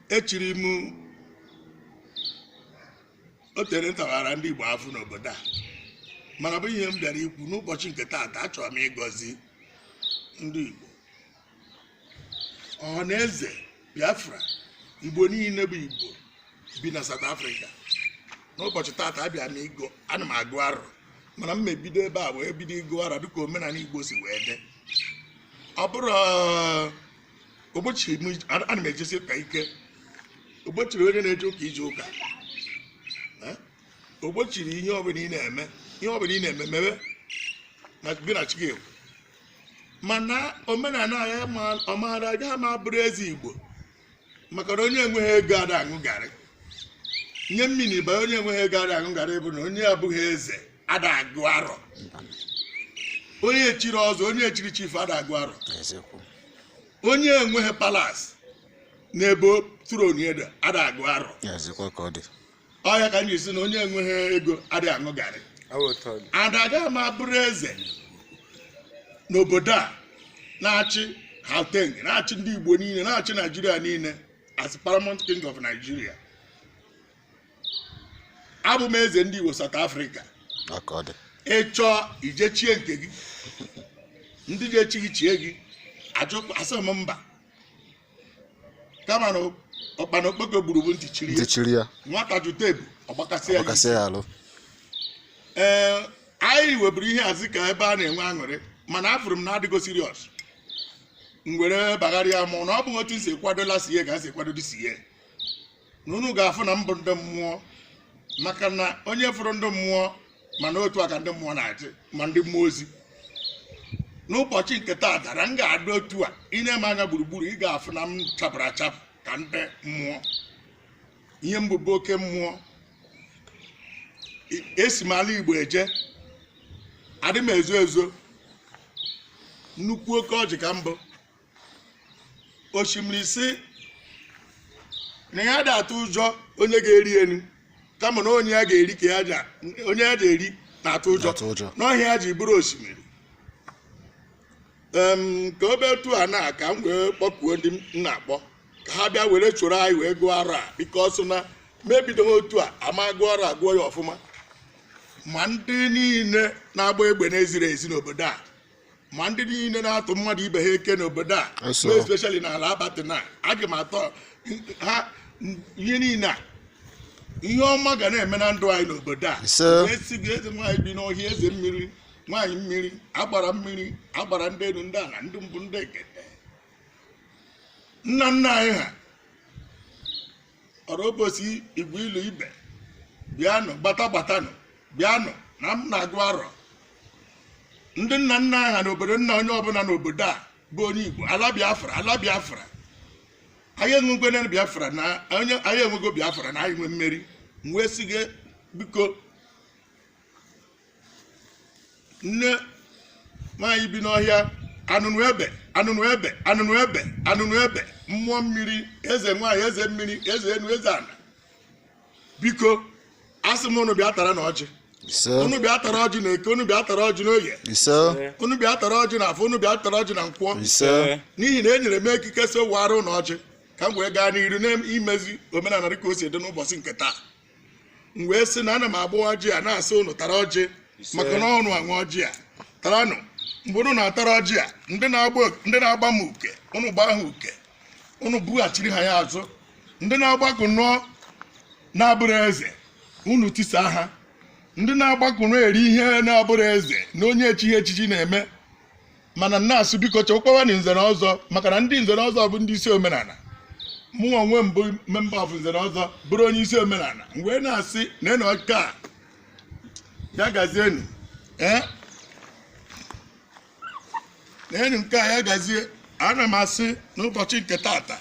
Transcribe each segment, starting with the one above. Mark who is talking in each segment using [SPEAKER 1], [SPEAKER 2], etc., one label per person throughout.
[SPEAKER 1] echiri m o tere ntawara ndị Igbo afụ n'obodo a mana bụ ihe m bịara ikwu n'ụbọchị nke taata achọrọ m ịgọzi ndị Igbo ọha na eze Biafra Igbo niile bụ Igbo bi na South Africa n'ụbọchị taata abịa m ịgụ ana m agụ arọ mana m ebido ebe a wee bido ịgụ arọ dịka omenala Igbo si wee dị ọ bụrụ o gbochi m ij- ana ana m ejesi ụka ike o gbochiro onye na-eje ụka ije ụka Eh? o gbochiro ihe ọbụla ị na-eme ihe ọbụla ị na-eme mewe na gị na chi gị ekwu mana omenala ya ma- ọ maara agaghị ama bụrụ eze igbo maka na onye enweghị ego ada aṅụ garị nye mmiri banye onye enweghị ego ada aṅụ garị bụ na onye abụghị eze ada agụ arọ onye echiri ọzọ onye echiri chief ada agụ arọ eziokwu onye enweghị palace n'ebe throne dị ada agụ arọ eziokwu ka ọ dị ọ ya ka m ji si na onye enweghị ego ada aṅụ garị ada ga ma bụrụ eze n'obodo a na-achị Gauteng na-achị ndị Igbo niile na-achị Nigeria niile as paramount king of Nigeria abụ m eze ndị Igbo South Africa ị chọọ ije chie nke gị ndị ga-echi gị chie gị asị m mba kama na ụkpana okpoko gburu bụ ntị chiri ya nwata jụta ebu ọ gbakasị ya arụ ee anyị weburu ihe a zị ka ebe a na-enwe aṅụrị mana afụrụ m na adịgo serious m were bagharịa mụ na ọ bụghị otu m si kwado last year ka m si kwado this year na unu ga-afụ na m bụ ndị mmụọ maka na onye fụrụ ndị mmụọ ma na otu a ka ndị mmụọ na-adị ma ndị mmụọ ozi n'ụbọchị nke taa dara m ga-adị otu a ị nee m anya gburugburu ị ga-afụ na m chapụrụ achapụ ka ndị mmụọ ihe m bụ bụ oke mmụọ esi m ala igbo eje adị m ezo ezo nnukwu oke ọjị ka m bụ osimiri sị na ya ada atụ ụjọ onye ga-eri elu kama na onye ya ga-eri ka ya ja onye ya ga-eri na-atụ ụjọ Na-atụ ụjọ. na ọ ihe ya ji bụrụ osimiri Em, ka ọ bụ etu a na ka m wee kpọkuo ndị m na-akpọ ka ha bịa were choro anyị wee gụọ arọ a biko a sị na m ebidoghị otu a ama gụọ arọ a gụọ ya ọfụma ma ndị niile na-agba egbe na-eziri ezi n'obodo a ma ndị niile na-atụ mmadụ ibe ha eke n'obodo a especially n'ala abatị na aga m atọ ha ihe niile a ihe ọma ga na-eme na ndụ anyị n'obodo a esi gị eze nwaanyị bi n'ọhịa eze mmiri nwaanyị mmiri agbara mmiri agbara ndị enu ndị ana ndị mbụ ndị egede nna nna anyị ha ọrụ obosi igwe ilu ibe bịanụ gbata gbatanụ bịanụ na m na-agọrọ ndị nna nna ha na obodo nna onye ọbụla n'obodo a bụ onye igbo ala biafra ala biafra anyị enwego na biafra na anyị enwego biafra na anyị nwe mmeri m wee sị gị biko nne nwaanyị bi n'ọhịa anụnụ ebe anụnụ ebe anụnụ ebe anụnụ ebe mmụọ mmiri eze nwaanyị eze mmiri eze enu eze ana biko asị m unu bịa taranụ ọjị ise unu bịa tara ọjị na eke unu bịa tara ọjị n'oye ise unu bịa tara ọjị na afọ unu bịa tara ọjị na nkwọ ise n'ihi na e nyere m ekike sị waara unu ọjị ka m wee gaa n'iru n'imezi omenala dịka o si dị n'ụbọchị nke taa m wee sị na ana m agọ ọjị a na-asị ụnụ tara ọjị maka na ọ ụnụ nwe ọjị a taranụ mgbe ụnụ na-atara ọjị a ndị na-agba ndị na-agba m uke ụnụ gbaa ha uke ụnụ bughachiri ha ya azụ ndị na-agbakọ ọnụ na-abụrụ eze ụnụ tisa ha ndị na-agbakọ ọnụ eri ihe na-abụrụ eze na onye echighị echichi na-eme mana m na-asị biko chekwawanụ nze na ọzọ maka na ndị nze na ọzọ bụ ndị isi omenala mụ onwe m bụ member of nze na ọzọ bụrụ onye isi omenala m wee na-asị na enu nke a ya gazienu ee na enu nke a ya gazie ana m asị n'ụbọchị nke tata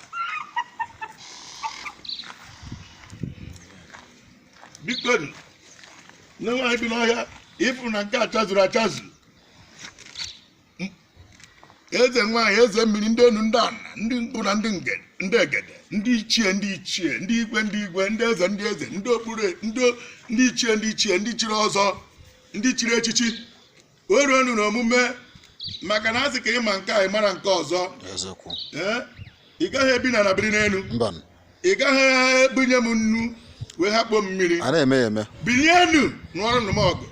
[SPEAKER 1] biko nne nwaanyị bi n'ọhịa ịfụ na nke a chazuru achazu eze nwaanyị eze mmiri ndị enu ndị ana ndị mbụ na ndị nge- ndị egede ndị ichie ndị ichie ndị igwe ndị igwe ndị eze ndị eze ndị okpuru ndị o- ndị ichie ndị ichie ndị chiri ọzọ ndị chiri echichi o ruonu na omume maka na a sị ka ị ma nke a ị mara nke ọzọ eziokwu ee ị gaghị ebi n'ana biri n'enu mba ị gaghị ebunye m nnu wee hakpo m mmiri a na-eme ya
[SPEAKER 2] eme
[SPEAKER 1] binienu nụọrọnụ m ọgụ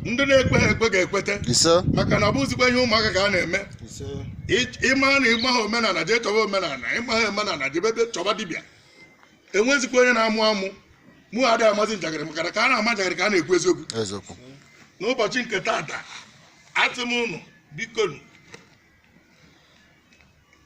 [SPEAKER 1] ndị na-ekweha ekwe ga-ekweta ise maka na ọ bụzikwa ihe ụmụaka ka a na-eme Ị- ịma na ị maha omenala jee chọba omenala ị maha omenala jebe be- chọba dibịa enwezikwa onye na-amụ amụ mụ adịghị amazi njakịrị maka na ka a na-ama njakịrị ka a na-ekwu eziokwu eziokwu n'ụbọchị nke tata asị m ụnụ biko nụ,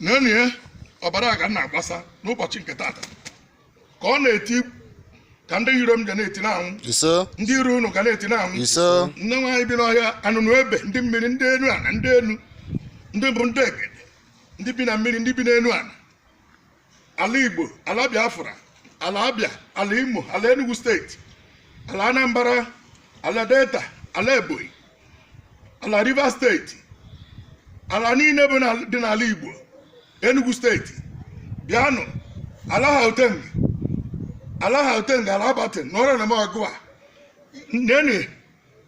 [SPEAKER 1] nenụ ihe ọbara ga na-agbasa n'ụbọchị nke taata ka ọ na-eti ka ndị iro m ga na-eti na-anwụ ndị iro unu ga na-eti na-anwụ nne nwaanyị bi n'ọhịa anụnụ ebe ndị mmiri ndị enu ana ndị enu ndị bụ ndị egede ndị bi na mmiri ndị bi n'enu ana ala igbo ala biafra ala abia ala imo ala enugu steeti ala anambra ala delta ala ebonyi ala rivers steeti ala niile bụ dị n'ala igbo enugu steeti bịanụ ala gauteng ala gauteng ala alberton na ọrịa na m ọgụ a nene